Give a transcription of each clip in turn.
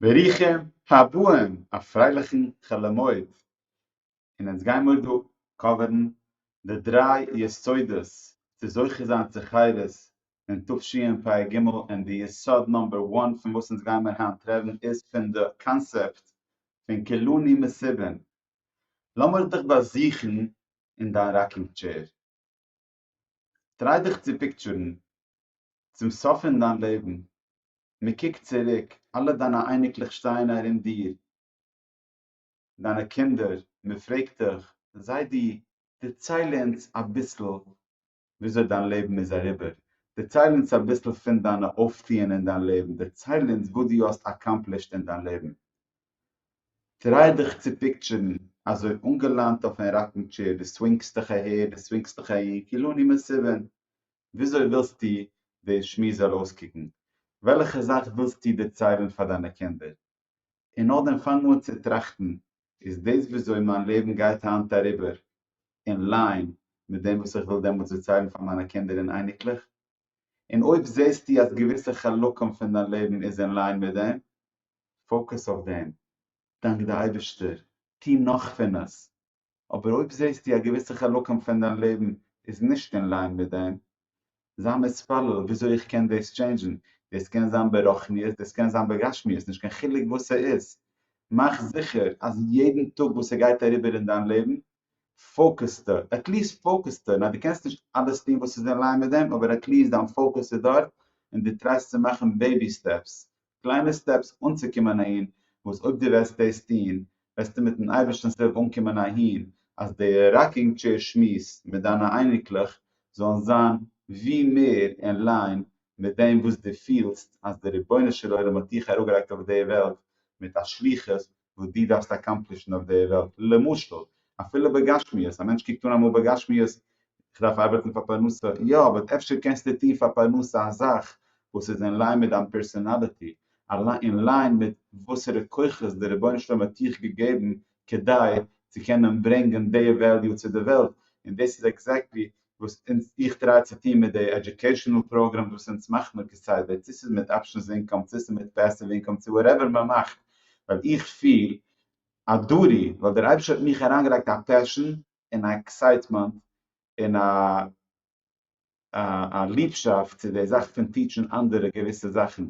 ברוכים הבאים! א פרייליכן חול המועד! און אונז גיימיר דא קאווערן די דריי יסודות צו זוכה זיין צו חירות אין תשפ ג, און די יסוד נאמבער וואן פון וואס אונז גיימיר היינט רעדן איז פון די קאנסעפט פון כולני מסיבין. לאמיר דיך באזוכן אין דיין ראקינג טשעיר. טריי דיך צו פיקטשערן צום סוף פון דיין לעבן, מען קוקט צוריק, אלע דיינע אייניקלעך שטייען ארום דיר, דיינע קינדער, מען פרעגט דיך, זיידי, דערצייל אונז אביסל וויאזוי דיין לעבן איז אריבער, דערצייל אונז אביסל פון דיינע אויפטוען אין דיין לעבן, דערצייל אונז וואס דו האסט אקאמפלישט אין דיין לעבן, טריי דיך צו פיקטשערן, אזוי אנגעלאנט אויפן ראקינג טשעיר, דו סווינגסט דיך אהער, דו סווינגסט דיך אהין, כאילו אני מסובין. וויאזוי ווילסטו די שמועס זאל אויסקוקן? וועלכע זאך ווילסטו דערציילן פאר דיינע קינדער? און נאכדעם פאנג אן צו טראכטן, איז דאס וויאזוי מיין לעבן גייט היינט אריבער אין ליין מיט דעם וואס איך וויל דעמאלטס דערציילן פאר מיינע קינדער און אייניקלעך? און אויב זעסטו אז געוויסע חלקים פון דיין לעבן איז אין ליין מיט דעם, פאוקעס אויף דעם. דאנק די אייבערשטער, טו נאך פון עס, אבער אויב זעסטו א געוויסע חלקים פון דיין לעבן איז נישט אין ליין מיט דעם, זיי מתפלל וויאזוי איך קען דאס טשעינדזשן, דאס קען זיין ברוחניות דאס קען זיין בגשמיות נישט קיין חילוק וואס ס'איז, מאך זיכער אז יעדן טאג וואס ס'גייט אריבער אין דיין לעבן פאוקעסטו, עטליעסט פאוקעסטו, ניין דו קענסט נישט אלעס טון וואס איז אין ליין מיט דעם אבער עטליעסט דיין פאוקעס איז דארט און דו טרייסט צו מאכן בעיבי סטעפס קליינע סטעפס אנצוקומען אהין, וואס אויב דו וועסט דאס טון וועסטו מיט'ן אייבערשטנ'ס הילף אנקומען אהין אז די ראקינג טשעיר שמועס מיט דיינע אייניקלעך זאלן זיין ווי מער אין ליין מיט דעם וואס דו פילסט אז דער רבונו של עולם האט דיך אראפגעלייגט אויף די וועלט מיט א שליחות וואס דו דארפסט אקאמפלישן אויף די וועלט, למשל, אפילו בגשמיות, א מענטש קוקט אן אמאל בגשמיות, איך דארף ארבעטן פאר פרנסה, יא, אבער אפשר קענסטו טון פאר פרנסה א זאך וואס איז אין ליין מיט דיין פערסאנאליטי, אין ליין מיט וואסערע כוחות דער רבונו של עולם האט דיך געגעבן כדי צו קענען ברענגען די וועליו צו די וועלט, און דאס איז עקזעקטלי וואס אונז איך טריי צו טון מיט די עדיוקעישאנעל פראגרעם וואס אונז מאכט מיר כסדר צו ס'איז מיט אפשענס אינקאם צו ס'איז מיט פעסיוו אינקאם צו וואטעווער מען מאכט ווייל איך פיל א דוטי ווייל דער אייבישטער האט מיך אריינגעלייגט א פעשאן און א עקסייטמענט און א א ליבשאפט צו די זאך פון טיטשן אנדערע געוויסע זאכן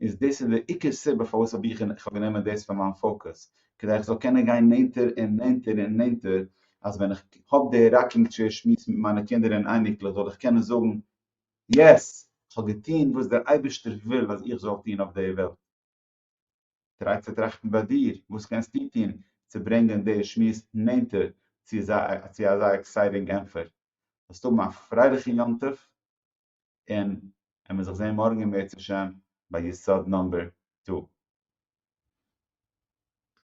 איז דאס איז דער עיקר סיבה פארוואס האב איך איך האב גענומען דאס פאר מיין פאקוס, כדי איך זאל קענען גיין נענטער און נענטער און נענטער, אז ווען איך האב די ראקינג טשעיר שמועס מיט מיינע קינדער און אייניקלעך זאל איך קענען זאגן, יעס! איך האב געטון וואס דער אייבערשטער וויל אז איך זאל טון אויף די וועלט. טריי צו טראכטן ביי דיר, וואס קענסטו טון צו ברענגען די שמועס נענטער צו אזא עקסייטינג ענטפער? זאלסט האבן א פרייליכן יום טוב! און עמער זיך זעהן מארגען בעזהשם ביי יסוד נאמבער טו.